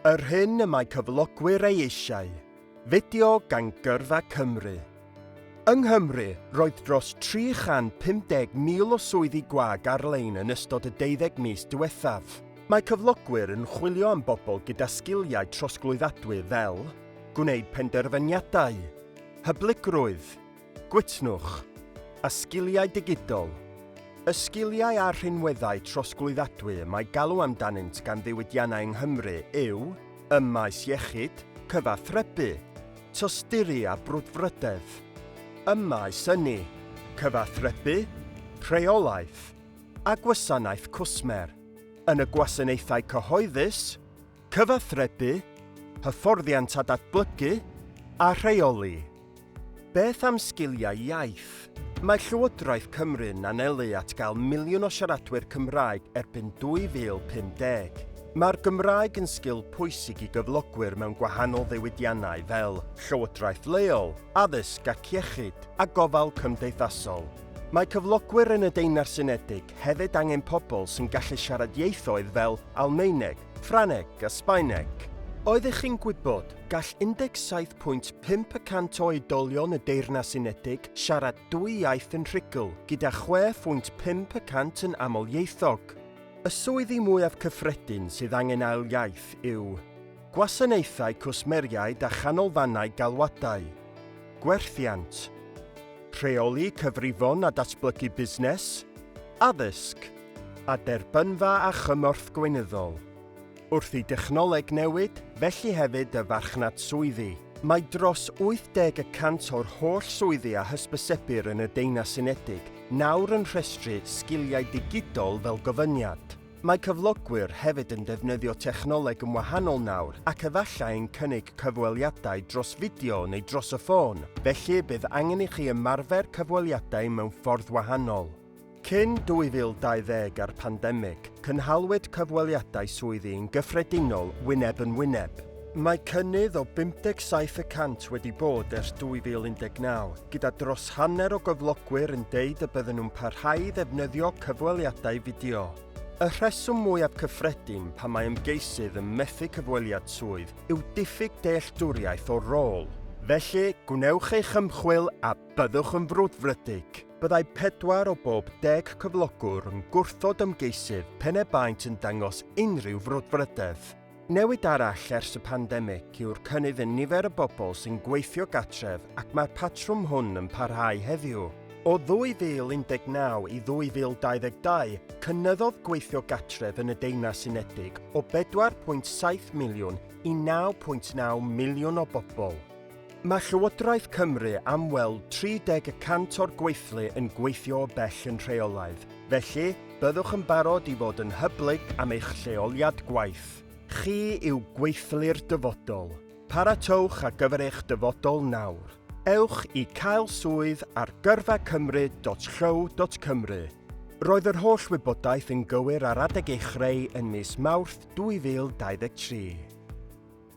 Yr hyn y mae cyflogwyr ei eisiau, fideo gan Gyrfa Cymru. Yng Nghymru, roedd dros 350,000 o swyddi gwag ar-lein yn ystod y deuddeg mis diwethaf. Mae cyflogwyr yn chwilio am bobl gyda sgiliau trosglwyddadwy fel gwneud penderfyniadau, hyblygrwydd, Gwytnwch a sgiliau digidol, Y sgiliau a'r rhinweddau trosglwyddadwy y mae galw amdanynt gan ddiwydiannau yng Nghymru yw ym maes iechyd, cyfathrebu, tosturi a brwdfrydedd, ym maes ynni, cyfathrebu, rheolaeth a gwasanaeth cwsmer, yn y gwasanaethau cyhoeddus, Cyfathrebu, hyfforddiant a datblygu, a rheoli. Beth am sgiliau iaith? Mae Llywodraeth Cymru'n anelu at gael miliwn o siaradwyr Cymraeg erbyn 2050. Mae'r Gymraeg yn sgil pwysig i gyflogwyr mewn gwahanol ddiwydiannau fel llywodraeth leol, addysg ac iechyd, a gofal cymdeithasol. Mae cyflogwyr yn y Deyrnas Unedig hefyd angen pobl sy'n gallu siarad ieithoedd fel Almaeneg, Ffrangeg a Sbaeneg. Oeddech chi'n gwybod, gall 17.5 y cant o oedolion y Deyrnas Unedig siarad dwy iaith yn rhugl, gyda 6.5 y cant yn amlieithog. Y swyddi mwyaf cyffredin sydd angen ail iaith yw Gwasanaethau Cwsmeriaid a Chanolfannau Galwadau, Gwerthiant, Rheoli Cyfrifon a Datblygu Busnes, Addysg, a derbynfa a chymorth gweinyddol. Wrth i dechnoleg newid, felly hefyd y farchnad swyddi. Mae dros 80 y cant o'r holl swyddi a hysbysebir yn y Deyrnas Unedig nawr yn rhestru sgiliau digidol fel gofyniad. Mae cyflogwyr hefyd yn defnyddio technoleg yn wahanol nawr ac efallai yn cynnig cyfweliadau dros fideo neu dros y ffôn, felly bydd angen i chi ymarfer cyfweliadau mewn ffordd wahanol. Cyn 2020 a'r pandemig, cynhalwyd cyfweliadau swyddi yn gyffredinol wyneb yn wyneb. Mae cynnydd o 57 y cant wedi bod ers 2019, gyda dros hanner o gyflogwyr yn deud y bydden nhw'n parhau i ddefnyddio cyfweliadau fideo. Y rheswm mwyaf cyffredin pam mae ymgeisydd yn methu cyfweliad swydd yw diffyg dealltwriaeth o'r rôl. Felly, gwnewch eich ymchwil a byddwch yn frwdfrydig! Byddai pedwar o bob deg cyflogwr yn gwrthod ymgeisydd pen y baent yn dangos unrhyw frwdfrydedd. Newid arall ers y pandemig yw'r cynnydd yn nifer y bobl sy'n gweithio gartref ac mae'r patrwm hwn yn parhau heddiw. O 2019 i 2022, cynyddodd gweithio gartref yn y Deyrnas Unedig o 4.7 miliwn i 9.9 miliwn o bobl. Mae Llywodraeth Cymru am weld 30 y cant o'r gweithlu yn gweithio o bell yn rheolaidd, felly byddwch yn barod i fod yn hyblyg am eich lleoliad gwaith. Chi yw gweithlu'r dyfodol. Paratowch ar gyfer eich dyfodol nawr. Ewch i Cael Swydd ar gyrfa cymru.llyw.cymru. Roedd yr holl wybodaeth yn gywir ar adeg ei chreu yn mis Mawrth 2023.